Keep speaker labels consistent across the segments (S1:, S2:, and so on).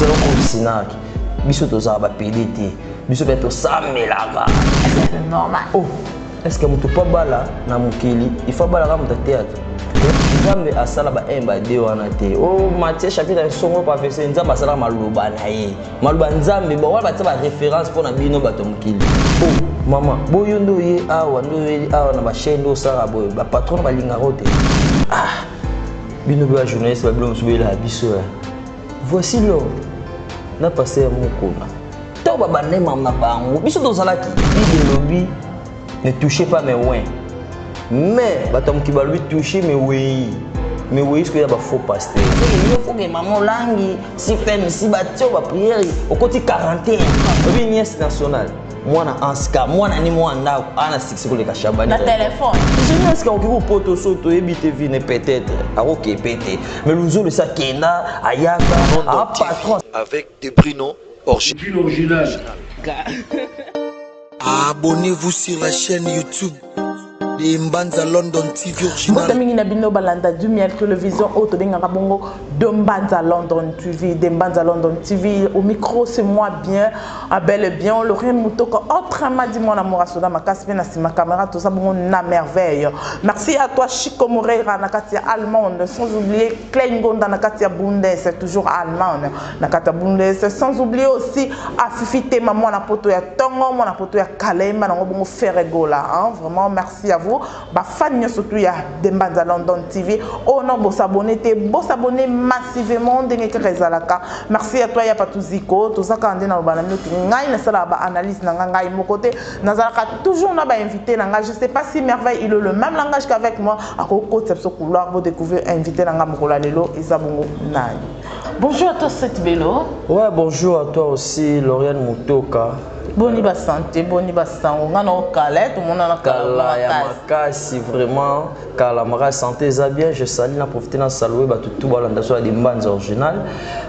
S1: zero covisinaki biso tozala bapede te biso mpe tosambelaka normal
S2: oh estce
S1: moto mpo abala na mokili ifo abalaka moto ateatre nzambe asala ba 1 ba 2 wana te o oh, matie chapitre ya nsongo professeur nzambe asalaka maloba na ye maloba nzambe ba wana batia ba référence mpo na bino bato ya mokili o oh, mama boyo nde oye awa nde oyeli awa na bachaine nde osalaka boye bapatron balingaka o te ah bino mpe bajournaliste babino mosusu boyelaka biso ya eh. Voici l'homme na pasteur Mukuna. To ba banema na bango. Biso tozalaki Bible lobi ne touchez pas mes wins. Mais bato mokili balobi touche mes wei. Mais wei sikoyo ya ba faux pasteur. Yo foke mama olangi si femme si batio ba prière okoti 41. Obi nièce nationale. mwana anska mwana ni mwana ndako ana siksi koleka shabani na telefone
S2: jeni anska okoki
S1: kopoto so toyebi te vine peut-être akokepe te mais luzolo esi akenda ayaka apatron avec de brino
S3: original
S4: abonnez-vous sur la chaîne youtube Mbanza London TV original. Mbote mingi na bino balanda
S2: du miel television oyo tobengaka bongo de Mbanza London TV. De Mbanza London TV au micro c'est moi bien à bel et bien Laurent Mutoka autrement dit moi na mora soda makasi pe na sima caméra tout ça bongo na merveille. Merci à toi Chico Moreira na kati ya Allemande sans oublier Klein Gonda na kati ya Bundes toujours Allemande. na kati ya bundes sans oublier aussi afifi tema mwana poto ya tongo mwana poto ya kalemba nango bongo ferre gola hein? vraiment merci à vous ba fan nyonso tout ya dembanza london tv oyo oh, na bosabone te bosabone massivement ndenge kaka ezalaka merci à toi ya patuziko tozaka nde naloba na mioki ngai nasalaka ba analyse na ngai ngai moko te nazalaka toujours na ba invité na ngai je sais pas si merveille il le même langage qu'avec moi akokotisa biso couloir bo découvrir invité na ngai mokolo ya lelo eza bongo nani Bonjour à toi Seth Belo. Ouais, bonjour à
S1: toi aussi Lauriane Mutoka. Boni ba
S2: santé, boni ba sango. Nga na okala, tout monde na kala ya makasi
S1: vraiment. Kala maka santé eza bien, je salue na profiter na saluer ba tout ba landa so ya Dimbanza original.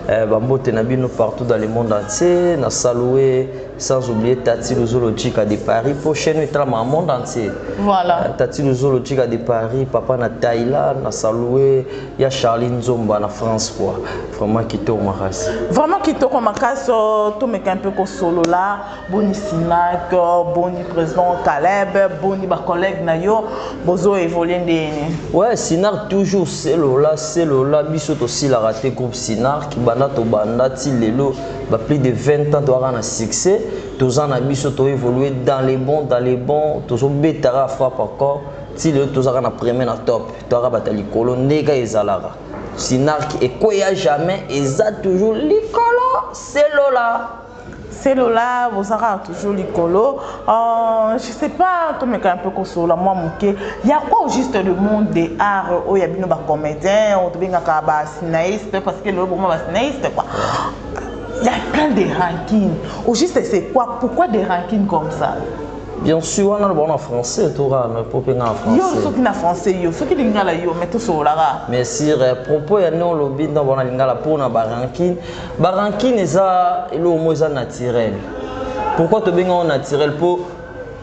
S1: Euh, ba mbote na bino partout dans le monde entier, na saluer sans oublier Tati Luzolo Chica de Paris pour chaîne etra ma monde entier. Voilà. Euh, Tati
S2: Luzolo Chica
S1: de Paris, papa na Thaïlande, na saluer ya charlie nzomba na france quoi vraiment kitoko makasi vraiment kitoko
S2: makasi oh, tomeka mpe kosolola boni sinak oh, boni président caleb boni bacollègue na yo bozo évolue ndeni ouais sinar
S1: toujours selola selola biso tosilaka te groupe sinark banda tobanda ti lelo ba plus de 20 ans toyaka na succès toza na biso toévolue dans les bons dans les bons tozobetaka frappe encore ti lelo tozalaka na premier na top Twaka bata likolo ndeka ezalaka. Sinark ekweya jamais eza toujours likolo selola. Selola,
S2: bozaka toujours likolo. Euh, je sais pas, to meka un peu kosola moi moke. Ya quoi au juste le monde des arts oyo oh, ya bino ba comédiens, on oh, tobengaka ba cinéastes parce que le moment ba cinéastes quoi. Il y a plein de rankings. Au juste c'est quoi Pourquoi des rankings comme ça bien sûr
S1: wana loba na français to kaka na po mpe nga na français yo soki na français
S2: yo soki lingala yo mais tosololaka mais sur eh,
S1: propos ya nde olobi ntango wana lingala mpo na barankine barankine eza eloko moko eza naturel pourquoi tobenga yango naturel mpo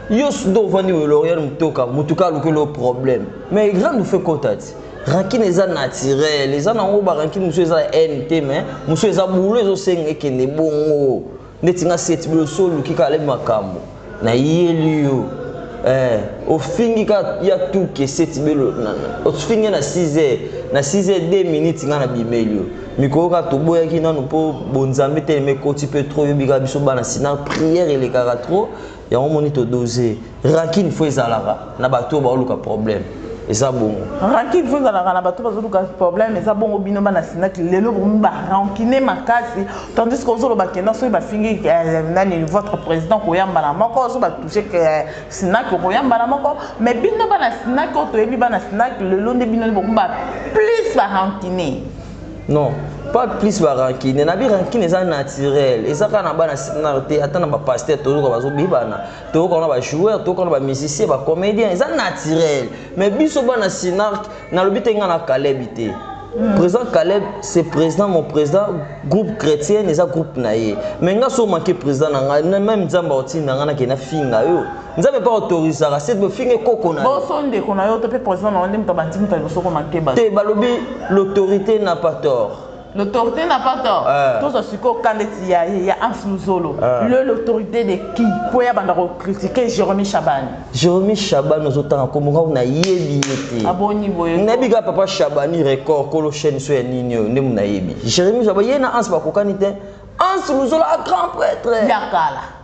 S1: yo nde ovandi weloriel motoka motuka aluki eloko problème mais grande ofe kota ti rankine eza naturel eza nango barankine mosusu eza ya nt mais mosusu eza boulot ezosenga ekende bongo ndeti nga seti biloso oluki kaka lebi makambo na yeli yo eh, ofingi ka ya tuke seti belo ofingi na 6 heures na 6 heures 2 minutes nga na bimeli yo mikolo kaka toboyaki nanu mpo bonzambe telema ekoti mpe trop yobika biso bana sina prière elekaka trop yango moni to dose rancune fo ezalaka na bato oyo baoluka problème eza bongo rancune fo ezalaka
S2: na bato bazoluka problème eza bongo bino bana sinaki lelo bomi barancune makasi tandis que ozoloba kenda soki bafingi eh, nani votre président koyambana moko ozo batouche eh, sinaki okoyambana moko mais bino bana sinaki oyo toyebi bana sinaki lelo nde bino bomi ba plus barancune non
S1: pas plus ba rancune na bi rancune eza naturel eza kaka na bana sinar te ata na ba pasteur toyoka bazobebana toyoka na ba joueur toyoka na ba musicien ba comédien eza naturel mais biso bana sinar nalobi te nga na kalebi te Mm. président Caleb c'est président mon président groupe chrétien eza groupe na ye mais nga so manqué président na nga même nzambe aotinda nga na kena finga yo nzambe mpe autorisaka se bofinge koko na boso ndeko na yo to
S2: mpe président na yo nde moto abandi moto ya liboso koma keba te
S1: balobi
S2: l'autorité na pas tort l'autorité na pas tort eh. tozwa sikoyo ka ndeti ya ya ans luzolo eh. le l'autorité de qui mpo ya banda kocritique jérémi chabani jérémi chabani
S1: ozotanga nkombo ngako nayebi ye te aboni boye
S2: nayebi kaka papa chabani
S1: record kolo chaîne so ya nini oyo nde monayebi jérémi chabani ye na ans bakokani te ans luzolo a grand prêtre ya kala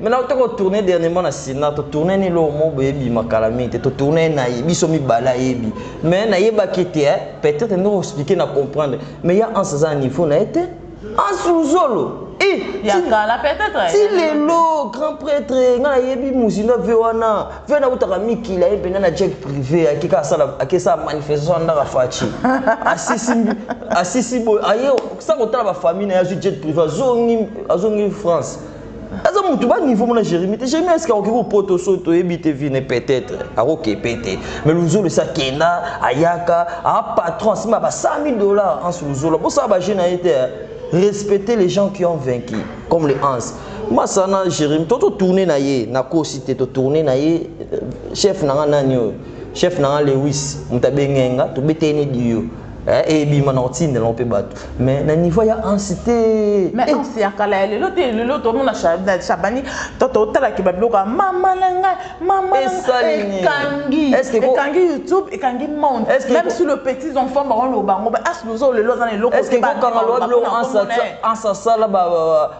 S1: mais na toko tourner dernièrement na sina to tourner ni lo mo boye bi makala mingi te to tourner na ye biso mi bala yebi mais na yeba ki te eh, peut-être ndoko expliquer na comprendre mais ya en sa niveau na ete en sous-zolo
S2: ti lelo
S1: grand prêtre nga nayebi mozindo ave wana Vena utaka mikili aye mpena na jet prive ayaki kaka asala ayaki asala manifestation na ndaka Fatshi asisi asisi boye aye sa kotala ba famille na ye azwi jet prive azongi azongi France aza mutu ba niveau mona Jérémie te Jérémie eske akoki kopota oso toyebi te vine peut-être akokepe te mais luzolo esi akenda ayaka a patron asima ba 100 000 dollars anse luzolo bosala ba jeu na ye te respecter les gens qui ont vaincu comme les anse masa na jeremi to totourne na ye nakosi te totourne na ye euh, chef na nga nani oyo chef na nga lewis moto abenge nga tobetee ne diyo eh, ebima na kotindela mpe bato mais na niveau ya ansi te mais eh. ansi ya kala
S2: ya lelo te lelo tomona shabani toto otalaki babiloko ya mama na ngai mama ekangi ekangi youtube ekangi monde même si le petits enfants baoloba ngo ba asi lozo lelo aza na eloko te bakanga loba
S1: biloko ansi asala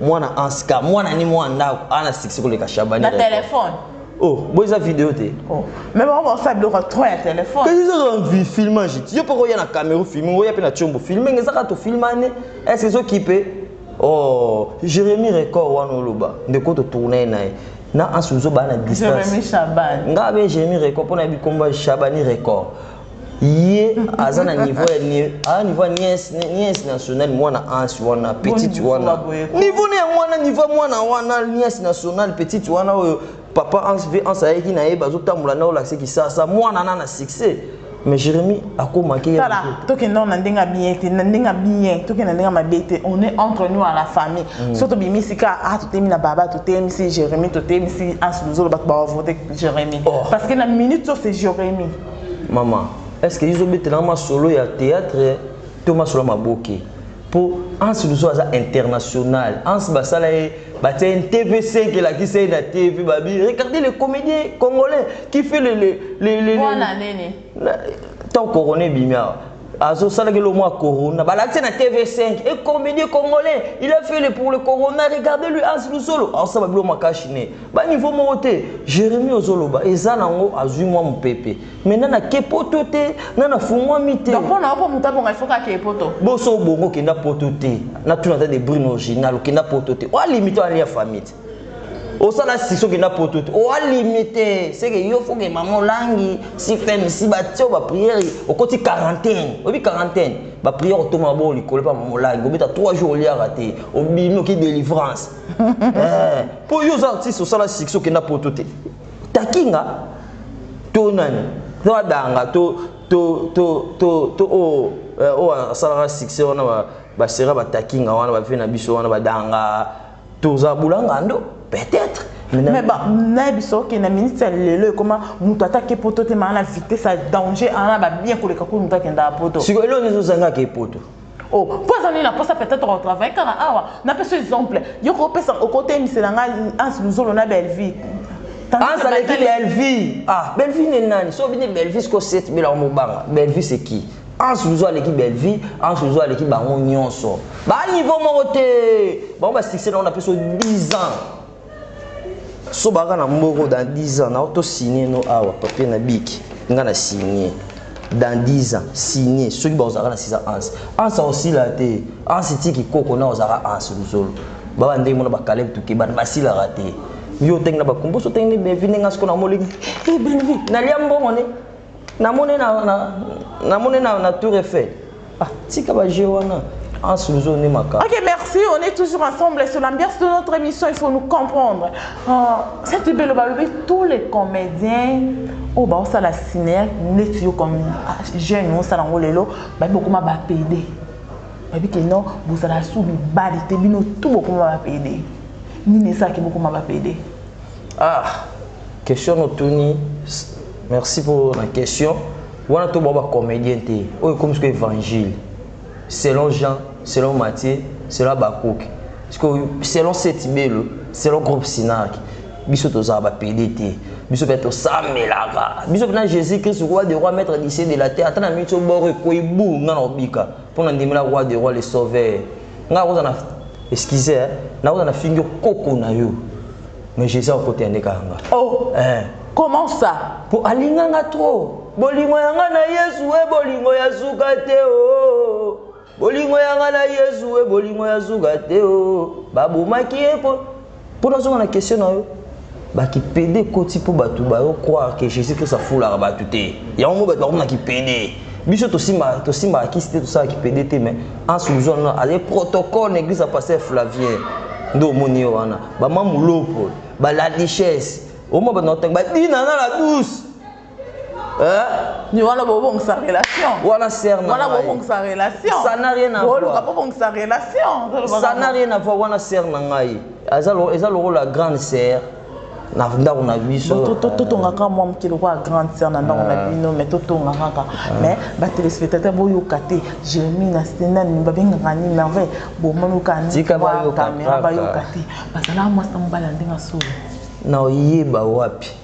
S1: mwana anska mwana ni mwana ndako ana succès koleka shabani na telefone
S2: oh boy eza
S1: video te oh. mais bango baosala
S2: biloko ya trop ya telefone kasi ezozala
S1: filmage ti yo mpo koya na camero filming oya mpe na combo filming ezaka tofilmane estce ezokipe oh jérémi record wana oloba ndeko totourna ye na ye na ansi ozobaa na distance nga
S2: be jérémi record mpo
S1: na yebi nkombo ya shabani record ye aza na niveau ya ah, niveau ya nièce nièce nationale mwana ansi wana petite wana niveau na yango wana niveau mwana wana nièce nationale petite wana oyo papa ansi mpe ansi ayaki na ye bazotambola na olakise kisasa mwana na na succès mais jérémi akomaki tala tokenda na
S2: ndenge ya bien te na ndenge ya bien tokenda ndenge ya mabe te on est entre nous à la famille mm. so tobimi sika ah totelemi na baba totelemisi jérémi totelemisi ansi luzolo bato bawavote jérémi oh. parce que na minute so c'est jérémi Maman,
S1: est-ce que izo betela ma solo ya théâtre to ma solo maboke? Po Hans Luzo aza international. Hans basala ye batia une TV5 elakisa ye na TV babi. Regardez le comédien congolais qui fait le le le le. Wana nene. Tant couronné bimia. Azo sala kelo mwa corona. Balakisa na TV5 et comédien congolais, il a fait le pour le corona. Regardez lui Hans Luzolo. Alors ça babilo makashi ne. Ba niveau moko te Jeremie ozo loba eza na ngo azui mwa mupepe mais nana ake poto te nana fungwami te donc pona oko muta bonga il
S2: faut kake poto boso bongo kenda
S1: poto te na tuna ta de brune original kenda poto te oa limite oa lia famille te osala siso kenda poto te oa limite seke yo foke mama olangi si fem si ba tio ba prière okoti quarantaine obi quarantaine ba prière otoma bo likolo pa mama olangi obeta 3 jours oliaka te obimi oki delivrance eh, po yo oza artiste osala succès okenda poto te takinga to nani to adanga to to to to to o oh, eh, o oh, asalaka succès wana ba basera batakinga wana bafe na biso wana badanga toza bulanga ndo peut-être mais ba
S2: na biso ke na minute ya lelo ekoma moto atake poto te maa na vitesse ya danger ana babien koleka kuli moto akendaka poto sikoyo eloo nizozangaka
S1: epoto Oh, mpo aza
S2: nini na posa peut-être au travail kaka awa na pesi exemple yo ko pesa okotemisela nga Hans Luzolo na Bellevue Hans avec
S1: Bellevue ah Bellevue ne nani so bini Bellevue ce que c'est bela mobanga Bellevue c'est qui Hans Luzolo aleki Bellevue Hans Luzolo aleki bango nyonso ba niveau moko te bango ba succès na on a pesi 10 ans so baka na mboko dans 10 ans nao to signe no awa papier na biki nga na signe dans 10 ans signe soki bakozalaka na 6 ans ans ans aosila te ans etiki koko na ozalaka ans luzolo baba ndenge mona bakaleb tuke bana basilaka te yo otenge na bakumboso otenge na bevi ndenge asiko na moliki eh, nalia mbongo ne Na mone na na na mone na na tour effet. Ah, tika ba jeu wana. En sous on est macabre.
S2: Ok, merci. On est toujours ensemble sur l'ambiance de notre émission. Il faut nous comprendre. Euh, cette belle balobé, tous les comédiens oyo oh, baosala cinéa neti yo comme ah, jeune osala yango lelo babi bokoma bapede babi ke non bozala su bibali te bino tu bokoma bapede nini esalaki bokoma bapede Ah,
S1: question otuni, merci pour la question. Wana to ba comédien te. Oyo comme ce que évangile. Selon Jean, selon Matthieu, selon Habakkuk. Parce que selon cette belle, selon groupe Sinac, biso tozala ba PD te. Biso pe to samelaka. Biso na Jésus Christ roi de roi maître du ciel de la terre. Atana mitso boro ko ibu na obika. Pona ndimela roi de roi le sauveur. nga nakoza na excuse eh, nakoza na fingi koko na yo mais jesus okota yande kaka nga oh eh.
S2: comment ça po alinga nga
S1: trop bolingo ya nga na yesu e bolingo ya suka te o oh. bolingo ya nga na yesu e bolingo ya suka te o oh. babomaki ye po Po nazonga na question na yo, ba ki pede ekoti po batu bazo croire que Jesus Christ afulaka batu te, yango omoni batu bakomi na ki pede, biso tosimbaka tosimbaka kisi te tosalaka ki pede te mais Hans Luzolo nanu azali protocole na eglise ya pasteur Flavien nde omoni ye wana, ba ma Mulopo, ba Ladiches, omoni batu nazo tanga, ba Dinana la douce.
S2: Hein? Wana bobongisa relation. Wana sœur na. Wana
S1: bobongisa
S2: relation. Ça n'a rien à voir. Boluka
S1: bobongisa relation.
S2: Ça n'a rien à voir
S1: wana sœur na ngai. Aza lo eza lokola grande sœur na ndako na biso totongaka mwa
S2: moke lokola grande sœur na ndako na ah. bino mais totonga kaka ah. mais batelespectateur boyoka te jeremi na stenani babengaka nini merveille bomonoka nikamera bayoka te bazalaka mwasi na mobali ya ndenge ya solo na oyeba
S1: wapi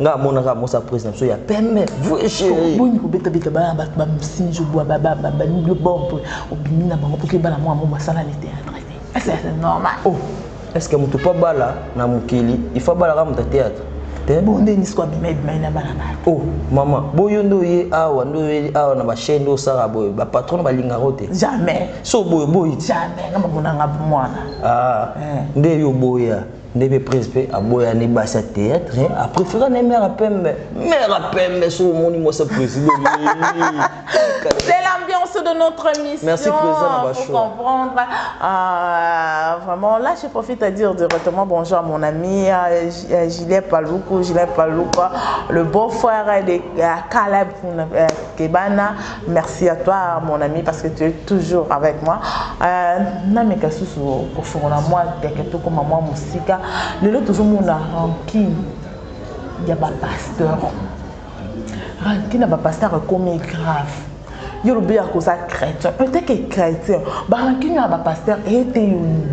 S1: nga amonaka mosa prise na biso ya pembe vrai chéri boni kobeta beta ba
S2: ba ba sinjo bwa ba ba ba nubio bombe obimi na bango poke bala mwa mo masala ni théâtre te c'est normal oh est-ce
S1: que mutu pa bala na mukili il faut bala ka mutu théâtre te bon nde nisko
S2: abima ebima na bala ba oh maman
S1: boyo ndo ye awa ndo ye awa na ba chaîne ndo sara boyo ba patron ba linga rote jamais so boyo
S2: boyi
S1: jamais na mona
S2: nga mwana ah eh. nde yo
S1: boya ndenge prise mpe aboyani basi ya théâtre eh, apréféra ne mère pembe mère pembe soki omoni mwasi ya président
S2: c'est l'ambiance de notre mission merci président na bacho
S1: comprendre
S2: euh, vraiment là je profite à dire directement bonjour à mon ami euh, euh Gilet Paloukou Gilet Paloukou le beau frère de euh, Caleb euh, Kebana Merci à toi mon ami parce que tu es toujours avec moi. Euh, nameka susu kofongola mwa teke tokoma mwa mosika lelo tozomona rankine ya bapasteur rankine ya bapasteur ekomi grave yo lobi ya koza chrétien eteke chrétien barankine ya bapasteur ete yo nini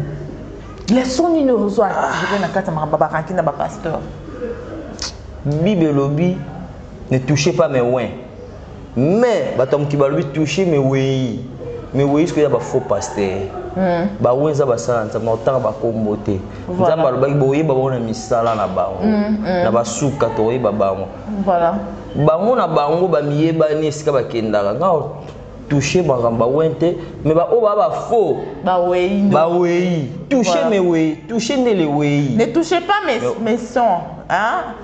S2: leson nini ozwa atire na kati ya makambo barankine ya bapasteur
S1: bible elobi ne touche pas mes wins mais bato ya mokili balobi touche mewei mewei soki ya bafaux pasteur hmm. bango eza basala nzambe nakotanga bakombo te nzambe alobaki boyeba bango na misala na bango hmm, hmm. na basuka tokoyeba bango
S2: bango na
S1: bango bamiyebani esika bakendaka nga touche makambo bawen te me baoyo baa bafaux bawei touche mewei touche ndele wei ne touche pas mes,
S2: mes sons hein?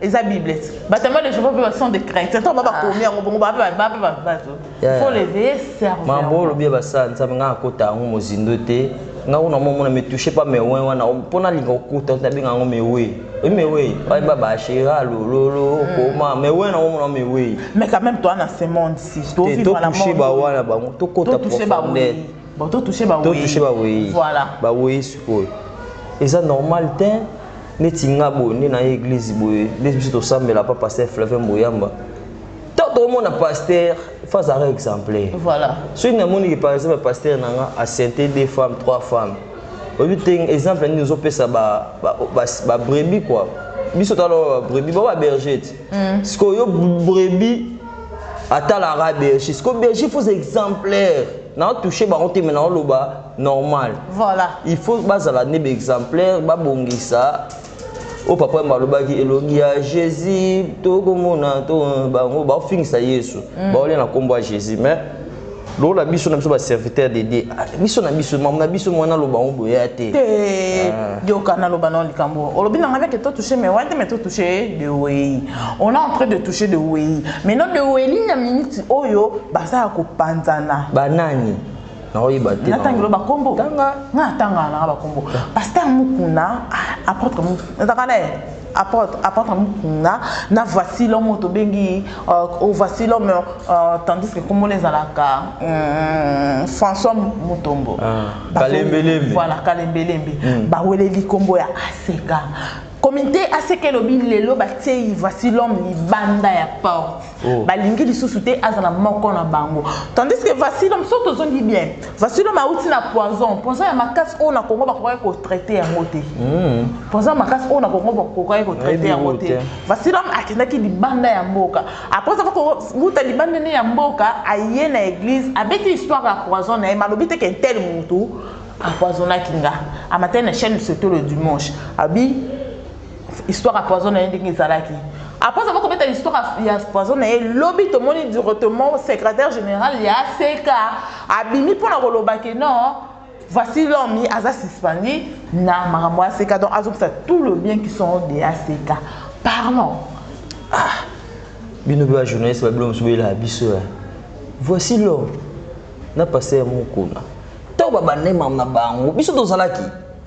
S1: eza
S2: bibles batama de jehova mpe ba sont des craintes ntango ba bakomi ah. yango bongo bape bape bato faut leveiller cerveau mambo olobi ya basala
S1: nzambe ngai akota yango mozindo te nga kuna mo mona me touche pas mes oin wana mpo nalinga okuta nabenga yango mewe mewe bayeba bashera lololo hmm. koma mewe na omona mewe mais quand même toi na
S2: ce monde si totouche bawana bango
S1: tokota profondeur bon to touche ba
S2: to touche ba weyi voilà ba weyi sikoyo
S1: eza normal te neti nga boye nde na ye eglise boye nde biso tosambela pa pasteur flavien boyamba ntango tokomona pasteur face à exemplaire voilà. soki
S2: namoni par
S1: exemple pasteur na nga asente deux femmes trois femmes oyebi te exemple nini ozopesa babrebi ba, ba, ba kua biso tala babrebi ba, ba berger ti Mm. Siko yo brebis ata la rabe siko berger faut exemplaire na toucher bango te mais na loba normal. Voilà. Il faut
S2: bazala
S1: nebe exemplaire babongisa oyo papa yamba alobaki elongi ya jésus tokomona to bango baofingisa yesu mm. baolia na nkombo ya jésus mais lokola biso na biso baserviteur de dieu ah, biso na biso mamo na biso mwana aloba yango boya te yoka
S2: ah. naloba nao likambo olobi na ngai ke totouche mewai te me totouche de wei on a entrain de touche de wei maintenant de weili na minute oyo baza ya kopanzana banani
S1: nakoyeba te natangelo bakombo
S2: nga atangala
S1: nanga
S2: bakombo paster mukuna ah, apôtre mukuna ezaka na ye Apotre, apotre Mukunda, na voici l'homme oyo tobengi euh, oh, voici l'homme euh, tandis que kombo na ezalaka euh, François Mutombo. Ah, Bazo- Kalembelembe.
S1: Voilà, kalembelembe.
S2: Mm. Baweleli kombo ya Aseka. Komite Aseka elobi lelo batieyi voici l'homme libanda ya porte. Oh. balingi lisusu te azala moko na bango tandis que vasilom so tozongi bien vasilom auti na poison poison ya makasi oyo na kongo bakokaki kotraite yango te hmm. poison ya makasi oyo na kongo bakokaki kotraite yango te vasilom akendaki libanda ya mboka apres aka kouta libanda ne ya mboka aye na eglise abeti histoire ya poison na ye malobi te ke tel mutu apoisonaki nga amatali na chaîne sotolo dimanche abi histoire ya poison na ye ndenge ezalaki après avoir kobeta histoire ya poison na ye lobi tomoni directement secrétaire général ya seka abimi mpo na koloba ke non voici l'homme aza suspendi na makambo ya seka donc azokisa tout le bien qui sont de ya seka pardon ah.
S1: bino mpe bajournaliste babilo mosusu boyelaka biso ya voici l'homme na paster mokona ntango babandai makambo na bango biso tozalaki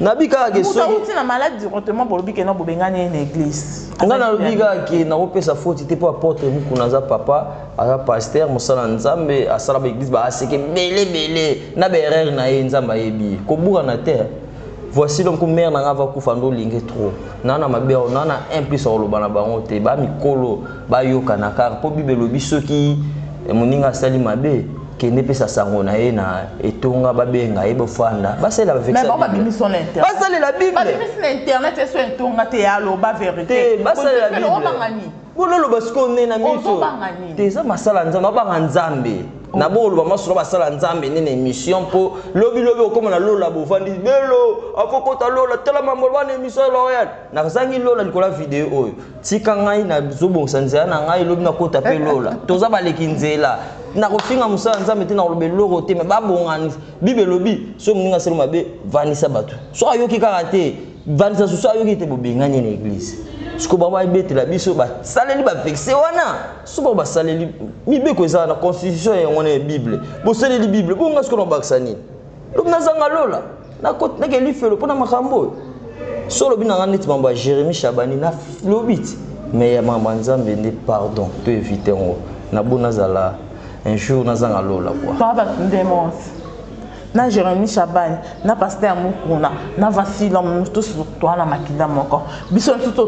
S2: nabi kaka ke soki
S1: mutu na malade directement
S2: bolobi ke na bobengani ye na église nga nalobi kaka
S1: ke nakopesa foti te mpo apotre mukuna aza papa aza pasteur mosala nzambe asala ba église ba aseke bele bele na ba erreur na ye nzambe ayebi ye koburana te voici donc mère na nga va kufa ndo olingi trop na na mabe awo na na un plus akoloba na bango te ba mikolo bayokana kaka mpo bible elobi soki moninga asali mabe kende pesa sango na ye na etonga babenga ye bofanda basalela
S2: basalela biblebasalabololoba
S1: sikoyo nde na miso te eza masala nzambe abanga nzambe oh. na boloba masolo basala nzambe nde na émission mpo lobilobi okoma na lola bofandi belo afokota lola tala mambo wana émission ya loreal nazangi lola likolo ya video oyo tika ngai nazobongisa nzela na ngai lobi nakota mpe lola toza baleki nzela nakofinga mosala nzambe te nakoloba eloko te me babongani bible elobi so moninga asali mabe vandisa bato so ayoki kaka te vandisa susu ayoki te bobengani na eglize siko bango babetela biso basaleli bavexe wana so bango basaleli mibeko eza wana constitution yango na ya bible bosaleli bible bonga siko na kobakisa nini donc nazanga lola nakeli lifelo mpo na makambo oyo so olobi na nga neti mambo ya jérémi chabani nalobi ti mais ya mambo ya nzambe nde pardon to évite yango nabo nazala un jour nazanga lola kua papa ndemose
S2: na jérémi chabani na paster mokuna na vasila mosusu toala makila moko biso nsusu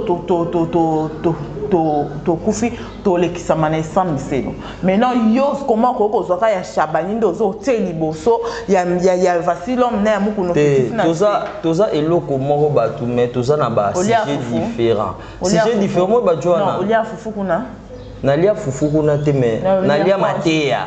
S2: tokufi tolekisama na esambiselo maintenant yo comment okoki kozwa ka ya shabani nde ozo otie liboso ya, ya, ya vasilom na ya mukuna te toza, toza
S1: eloko moko batu mais toza na ba sujet différent sujet différent moi bajo wana olia fufu kuna nalia
S2: fufu
S1: kuna te
S2: mais
S1: nalia mateya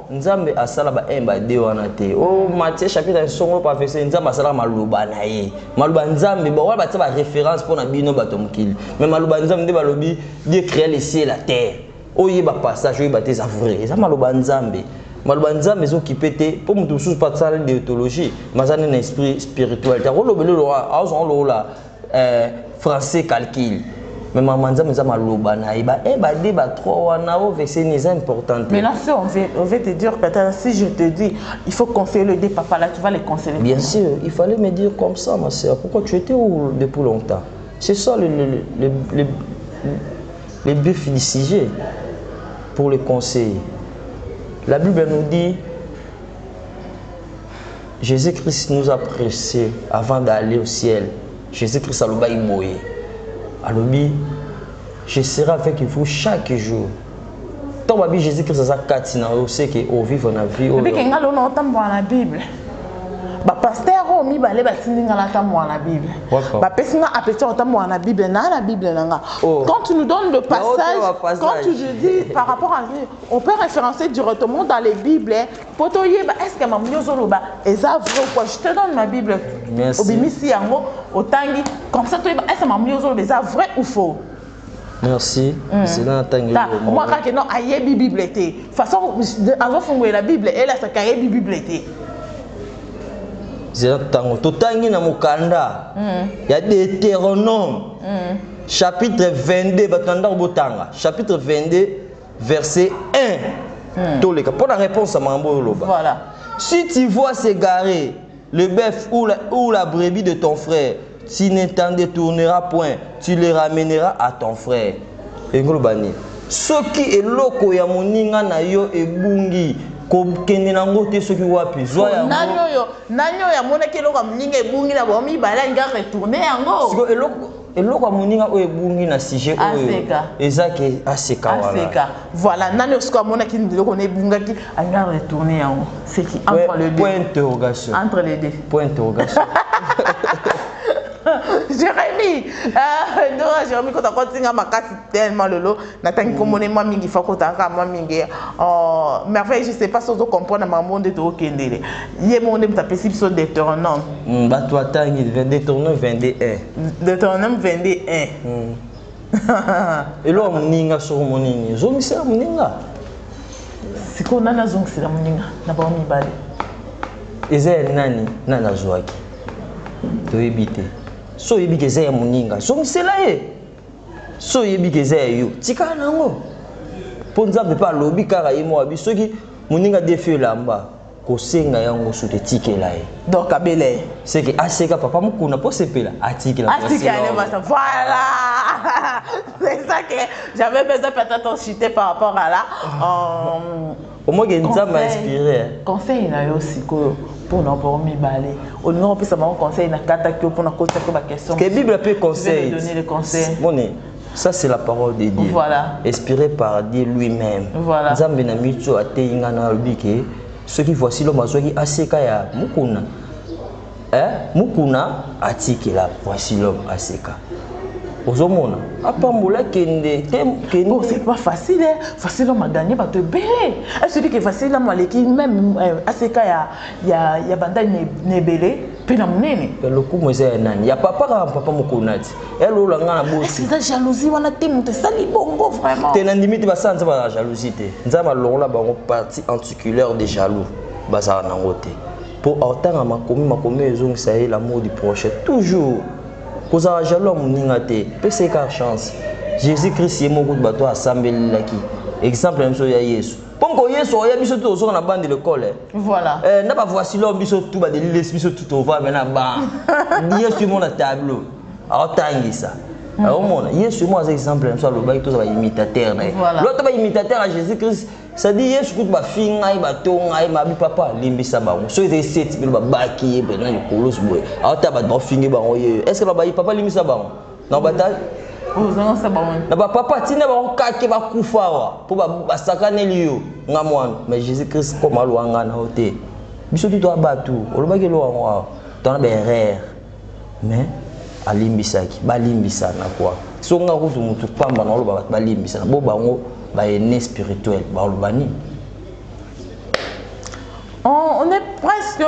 S2: Nzambe
S1: asala ba un ba deux wana te o Matthieu chapitre ya songo professeur Nzambe asalaka maloba na ye maloba Nzambe bon wana batia ba reference mpo na bino bato ya mokili mais maloba Nzambe nde balobi Dieu crea le ciel la terre oyeba passage oyeba te eza vrai eza maloba Nzambe maloba Nzambe ezo kipe te mpo moto mosusu mpe asala deotologie mais aza nde na esprit spirituel te akolobela lokola azwa lokola eh, français calcul mais mama nzambe eza maloba na ye ba eh, ba de ba trois wana o verse ni eza importante mais là c'est on veut on veut te
S2: dire que si je te dis il faut conseiller le de papa là tu vas les conseiller bien sûr il fallait
S1: me dire comme ça ma sœur pourquoi tu étais où depuis longtemps c'est ça le le le le le but du sujet pour le conseiller la bible nous dit Jesus Christ nous a presse avant d'aller au ciel. Jesus Christ alobaki boye. Alobi je serai avec vous chaque jour. Tant babi Jesus Christ aza kati na yo c'est que au vivre na vie oyo. Bike ngalo na otambola
S2: na Bible. Ba pasteur oyo mibale batindi nga natambola na Bible. Bapesi nga appétit otambola na Bible na na Bible na nga. Oh. Quand tu nous donnes le passage, quand tu dis par rapport à on peut référencer directement dans les Bibles po toyeba est ce que mamudi ozoloba eza vrai ou quoi je te donne ma bible obimisi
S1: yango
S2: otangi comme ça toyeba est ce que mamudi ozoloba eza vrai ou faux merci
S1: hmm. zela natangi moi kaka non
S2: ayebi bible te façon azofungolela bible elasaka ayebi bible te zela
S1: ntango totangi na mokanda hmm. ya deuteronome hmm. chapitre 22 bato na ndako botanga chapitre 22 verset 1 hmm. toleka mpo na réponse ya makambo oyo oloba voilà. si
S2: tu vois s'égarer
S1: le bœuf ou la, ou la brebis de ton frère tu ne t'en détourneras point tu le ramèneras à ton frère elingi oloba nini soki eloko ya moninga na yo ebungi kokende nango te soki wapi zwa yangonani oyo nani oyo
S2: amonaki eloko ya moninga ebungi na bomibale alinga retourne yango
S1: eloko ya moninga oyo ebungi na sujet oyo eza ke aseka aseka
S2: voilà nani osuka amonaki biloko na ebungaki alinga retourne yango seki entre le deux point interrogation
S1: entre les deux point interrogation
S2: Jérémy euh, Dora Jérémy kota kotinga makasi tellement lelo natangi kombo ne mwa mingi fakota kaka mwa mingi oh, merveille je sais pas si ozo comprendre makambo nde tookendele ye moko nde moto apesi biso deuteronome mm, bato atangi
S1: deuteronome 22 1 deuteronome
S2: 22 1 mm.
S1: eloko moninga soko monini ezongisela moninga
S2: sikoyo nani azongisela moninga na bango mibale eza
S1: ya nani nani azwaki toyebi te so oyebi ke eza ya moninga zongisela ye so oyebi ke eza ya yo tikala na yango mpo nzambe mpe alobi kaka ye moko abi soki moninga defi elamba kosenga ya ngosu te tikela ye donc abela ye
S2: seke aseka
S1: papa mokuna mpo sepela atikela voilà
S2: c'est ça que j'avais besoin peut-être en chuter par rapport à là ah. euh,
S1: omoke nzambe a inspire conseil na yo
S2: sikoyo mpo na bango mibale olingi kopesa bango conseil na kataki yo mpo na kotisa mpe baquestion ke bible mpe conseil moni ça
S1: c'est la parole de dieu voilà. inspiré
S2: par dieu
S1: lui-même voilà. nzambe na
S2: mitu
S1: ateyi ngai na alobi ke soki voici lome azwaki aseka ya mokuna eh, mukuna atikela poisilom aseka ozomona apambola kende te kende oh, c'est pas
S2: facile hein. facile on m'a gagné ba te belé est ce que facile là maleki même euh, ACK ya ya ya banda ne belé pe na munene ya lokumu eza ya nani
S1: ya papa kaka papa mokonati ya lola nga na bosi eza jalousie wana te
S2: moto esali bongo vraiment te na ndimi te
S1: basala
S2: nzambe
S1: na jalousie te nzambe alongola bango partie anticulaire de jaloux bazala nango te mpo aotanga makomi makomi oyo ezongisa ye l'amour du prochain toujours kozala jaloux ya moninga te pesa eka chance jésus christ ye moko bato asambelelaki exemple na biso ya yesu comme ko yesu oya biso tu tozoka na bande lekole eh. voilà eh, na
S2: bavoici lor
S1: biso tu badelilesi biso tu tova me na ba yesu mona tableau aotangisa aomona mm. ah, yesu moko aza exemple na biso alobaki tozala imitateur na ye loto baimitateur ya jésus christ Sadi Yesu kutu bafinga ye batonga ye mabi papa limbisa bango soki ezali seti bino babaki ye mpenza likolosi boye ata bato bafingi bango ye est ce que babayi papa limbisa bango na bata na bapapa ntina bango kake bakufa awa mpo basakaneli yo nga mwana mais jésus christ koma alwanga na yo te biso tutu abatu olobaki eloko yango awa tona baerreur mais alimbisaki balimbisana kua so nga kutu mutu pamba naoloba bato balimbisana bo bango baene spirituel baoloba nini
S2: on, on est presque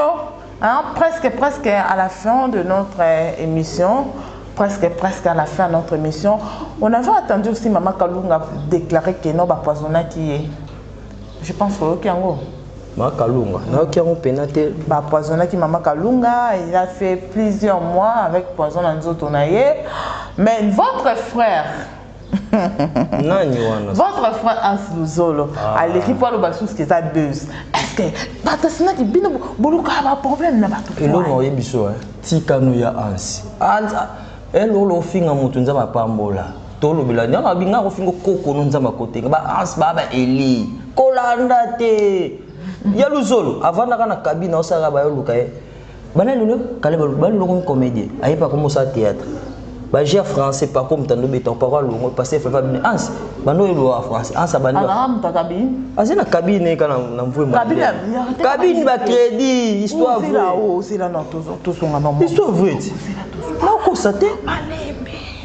S2: hein, presque presque à la fin de notre euh, émission presque presque à la fin de notre émission on avait attendu aussi mama kalunga déclarer que non bapoisonnaki ye Je pense oyoki yango. Mama Kalunga,
S1: nayoki yango pena te. Ba poisonnaki mama
S2: Kalunga, il a fait plusieurs mois avec poison na nzoto na ye. Mais votre frère nani wana votre frère Hans Luzolo ah. aleki mpo aloba susu eza buzz est-ce que bato asinaki bino bolukaka baproblème na bato eloko oye biso
S1: tikano ya Hans elolo ofinga moto nzambe apambola Tolobela nde wana binga kofingo koko no nzambe akotenga ba ans ba ba eli kolanda te ya luzolo avandaka na kabina osalaka bayo luka ye bana lelo kale balelo komi comédien ayepa komi osala théâtre ba jeu ya français pako mutando beta pako alongo pasteur fefa bini ans bando yelo wa français ans abandi ba muta kabine
S2: azi na kabine
S1: kana na mvue mo kabine kabine ba crédit histoire vraie osila na tozo
S2: tozo ngana histoire vraie
S1: na ko sate malembe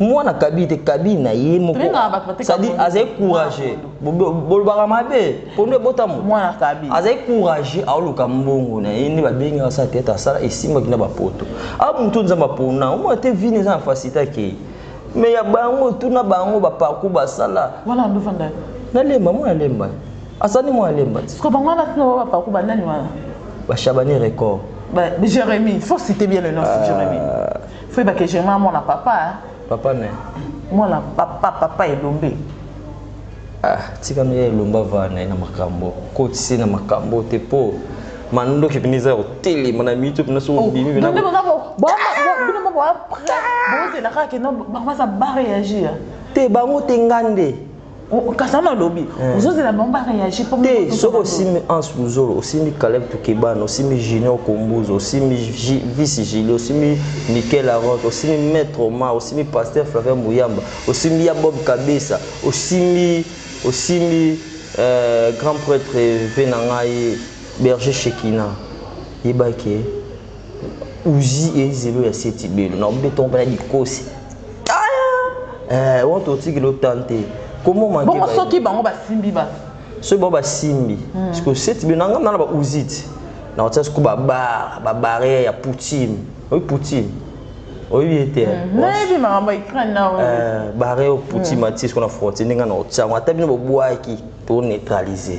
S1: mwana kabi te kabi na ye mokosadi azali courage bolobaka mabe pondo ebotamu azali
S2: courage
S1: aoluka mbongo na ye nde babengi asala teatre asala esimbaki na bapoto a moto nzambe apona omona te vine eza na facilité akei me ya bango tuna bango baparcour basala
S2: nalemba mwana
S1: lemba asani mwana lemba
S2: bashabani
S1: record jérémie
S2: faut citer bien le nom euh, jérémie Feu ba que j'aime moi na papa. Hein? Papa ne.
S1: Moi na
S2: papa papa elombe.
S1: Ah, tika no ya elomba va na na makambo. Ko tisi na makambo te po. Mando ki piniza yo tele mana mi tu pina so oh, bimi na. Ndio ndio
S2: bo bino moko après. Bo te na kaka no ba ma sa ba réagir. Te bango te
S1: ngande. kasi wana
S2: olobi eh. ozozela bango bareagi te soki osimbi
S1: ans luzolo osimbi caleb tukebana osimbi junior kombuza osimbi vice gili osimbi michael aront osimbi maître oma osimbi pasteur flavien muyamba osimbi ya bob kabesa osimbi osimbi euh, grand prêtre ve na ngai berger shekina yebaki uzi ezelo ya setibelo na obi tombela dikosi Eh, want to take lo tante. Comment manquer? Bongo soki bango ba
S2: simbi ba. Soki bango ba
S1: simbi. Hmm. Parce que cette bien nanga na ba uzit. Na otsa sku ba bar, ba barrière ya Poutine. Oui Poutine. oyebi ye te nayebi makambo
S2: ukraine na oyo barre oputi
S1: matis kuna frontier ndenge na otsango ata bino bobwaki to neutraliser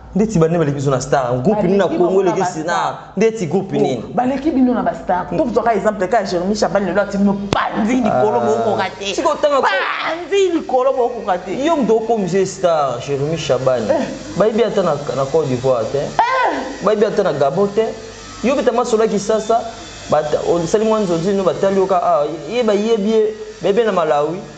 S1: ndeti bande baleki biso na star groupe nini na congo eleki star ndeti groupe nini oh, baleki bino na bastar
S2: to tozwaka exemple ka jeremi chabal lelo ati bino panzi likolo ah. bokoka te panzi
S1: likolo
S2: bokoka te yo moto okomise
S1: star jeremi chabal eh. bayebi ata na cote d'ivoire te eh. bayebi ata na gabo te yo beta masola kisasa osali mwa nzonzi no batali yoka ah, ye bayebi ye bebe na malawi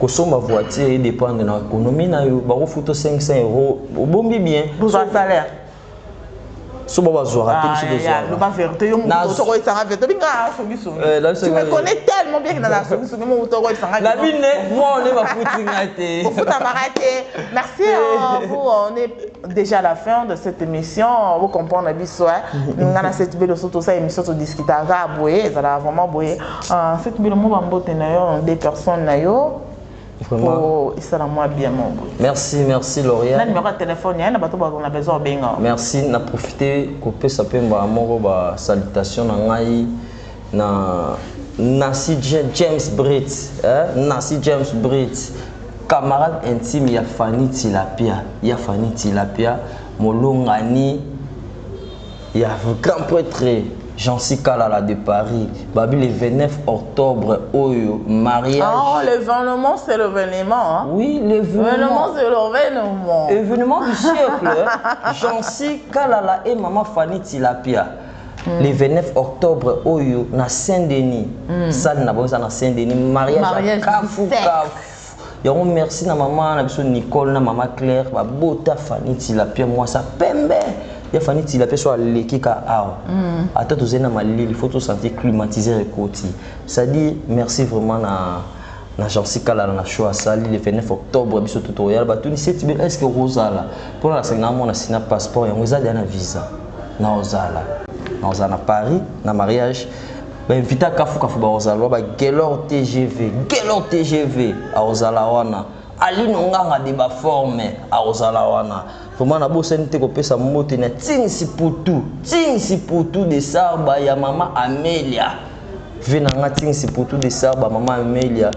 S1: kosomba voiture edependre na ekonomi na yo bakofuta 500 euro obombi bien bozwa salaire so ba bazwaka te biso tozwakaloba verité yo
S2: moto okoyesanga verité obi ngaa songisongi tu me connais tellement bien kinala songisongi moto okoyesanga na bine mwa
S1: one bafuti nga te ofutamaka te
S2: merci vous on est déjà à la fin de cette émission vous comprendre biso nga na seti belo so tosala émission todiscutaka boye ezalaka vraiment boye Ah, cette belle mot bambote na yo, des personnes na yo. Vraiment. Oh, et ça la moi bien mon bout. Merci, merci
S1: L'Oréal. Na numéro de téléphone, il y a
S2: bato ba on a besoin benga. Merci, na profiter
S1: couper sa pemba moko ba salutation na ngai na Nancy James Britt, hein? Nancy James Britt. Camarade intime, il y a Fanny Tilapia, il y a Fanny Tilapia, Molongani, ya grand pretre Jancy Kalala de Paris babi le 29 octobre oyo mariage oh l'événement
S2: c'est l'événement hein? oui l'événement
S1: c'est l'événement
S2: événement du
S1: siècle Jancy Kalala et maman Fanny Tilapia Mm. le 29 octobre oyo na saint denis mm. sale na bango eza na saint denis mariage, mariage ya kafu kafu yango merci na mama na biso nicole na mama claire babota fani tilapia mwasa pembe ya fani tilapia so aleki ka awa mm. ata tozali na malili fo tosanti climatiseur ekoti cestadire merci vraiment na na jansi kalala na show asali le 29 octobre biso to toyala batunisi eti est ce que okozala mpona nasengi namona sina passeport yango eza deya na visa naozala naozala na paris na mariage ba invita kafu kafu bakozala ba gelor tgv gelor tgv akozala wana alino nganga de baforme akozala wana vraimen nabosani te kopesa mbote na tingsi putu tingsi putu de sarba ya mama amelia ve na nga tingsi putu de sarba mama amelia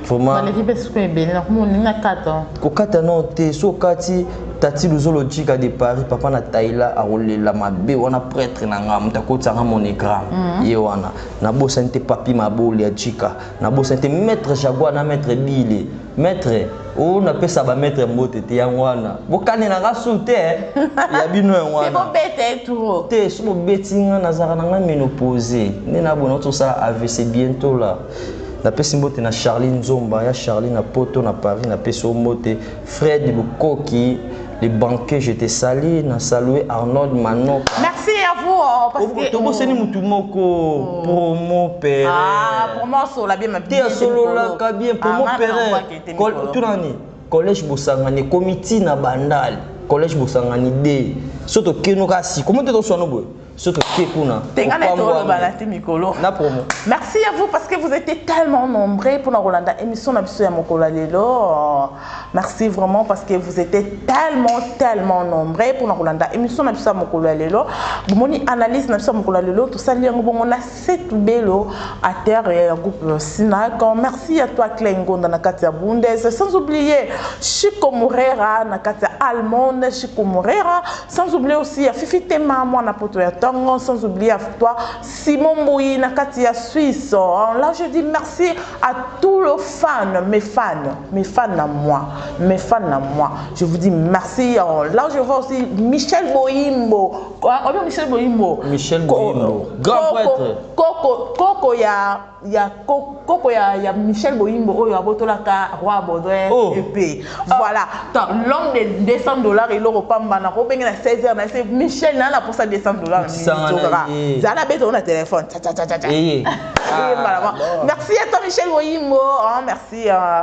S1: vraiment baleki mpe siko ebele
S2: nakomoni na kata kokata nao te
S1: so okati tati luzolo jika de paris papa na taila akolela mabe wana pretre na nga moto akotisanga monogramme mhm. ye wana nabosani te papi maboli ya jika nabosani te maître jaguar na maître bile maître oyo napesa bamaître mbote te yango wana bokanelanga su te eh. ya bino yango wana
S2: te so bobeti
S1: nga nazalaka na nga menopose nde nabona tosala avc bientôt la napesi mbote na charli nzomba ya charli na poto na paris napesi o mbote fred lukoki le banquier je te sali na salue arnold manoka merci à vous
S2: oh, parce que tobosani mutu moko
S1: oh. promo pere ah promo sola
S2: bien ma te asololaka
S1: bien promo ah, pere tunani collège bosangani komiti na bandal collège bosangani de so tokenoka sikomo te toswana boye soki otie kuna te nga na toloba na te
S2: mikolo na promo merci à vous parce que vous étiez tellement nombreux pour na kolanda émission na biso ya mokolo ya lelo merci vraiment parce que vous étiez tellement tellement nombreux pour na kolanda émission na biso ya mokolo ya lelo bomoni analyse na biso ya mokolo ya lelo tosali yango bongo na setu belo à terre ya groupe sinac merci à toi Clay Ngonda na kati ya Bundes sans oublier Chico Morera na kati ya Allemande Chico Morera Sans oublier aussi ya Fifi Tema mwana poto ya tongo sans oublier ya toi Simon Mbuyi na kati ya Suisse en là je dis merci à tout le fan mes fan mes fan na moi mes fan na moi je vous dis merci en là je vois aussi Michel Boyimbo ah, Michel Boyimbo Michel Boyimbo
S1: grand prêtre koko koko
S2: ya ya koko ya, ya Michel Boyimbo oyo abotolaka roi Baudouin oh. epe ah. voilà ah. l'homme de 200 dollars eloko pamba na ko benge na 16 heures na se Michel na na posa 200 dollars zala zana beto na téléphone cha cha cha cha eh, eh. Ah, merci à toi Michel Boyimbo oh merci euh,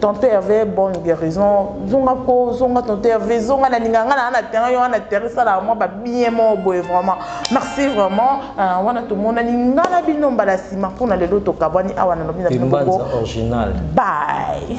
S2: Tonton Herve bonne guérison zonga ko zonga tonton Herve zonga na ninga nga na na terrain yo na terrain sala moi ba bien mo boye vraiment merci vraiment euh, wana to mona ninga na bino mbala sima pona lelo to kabwani awa na lobi na bino original bye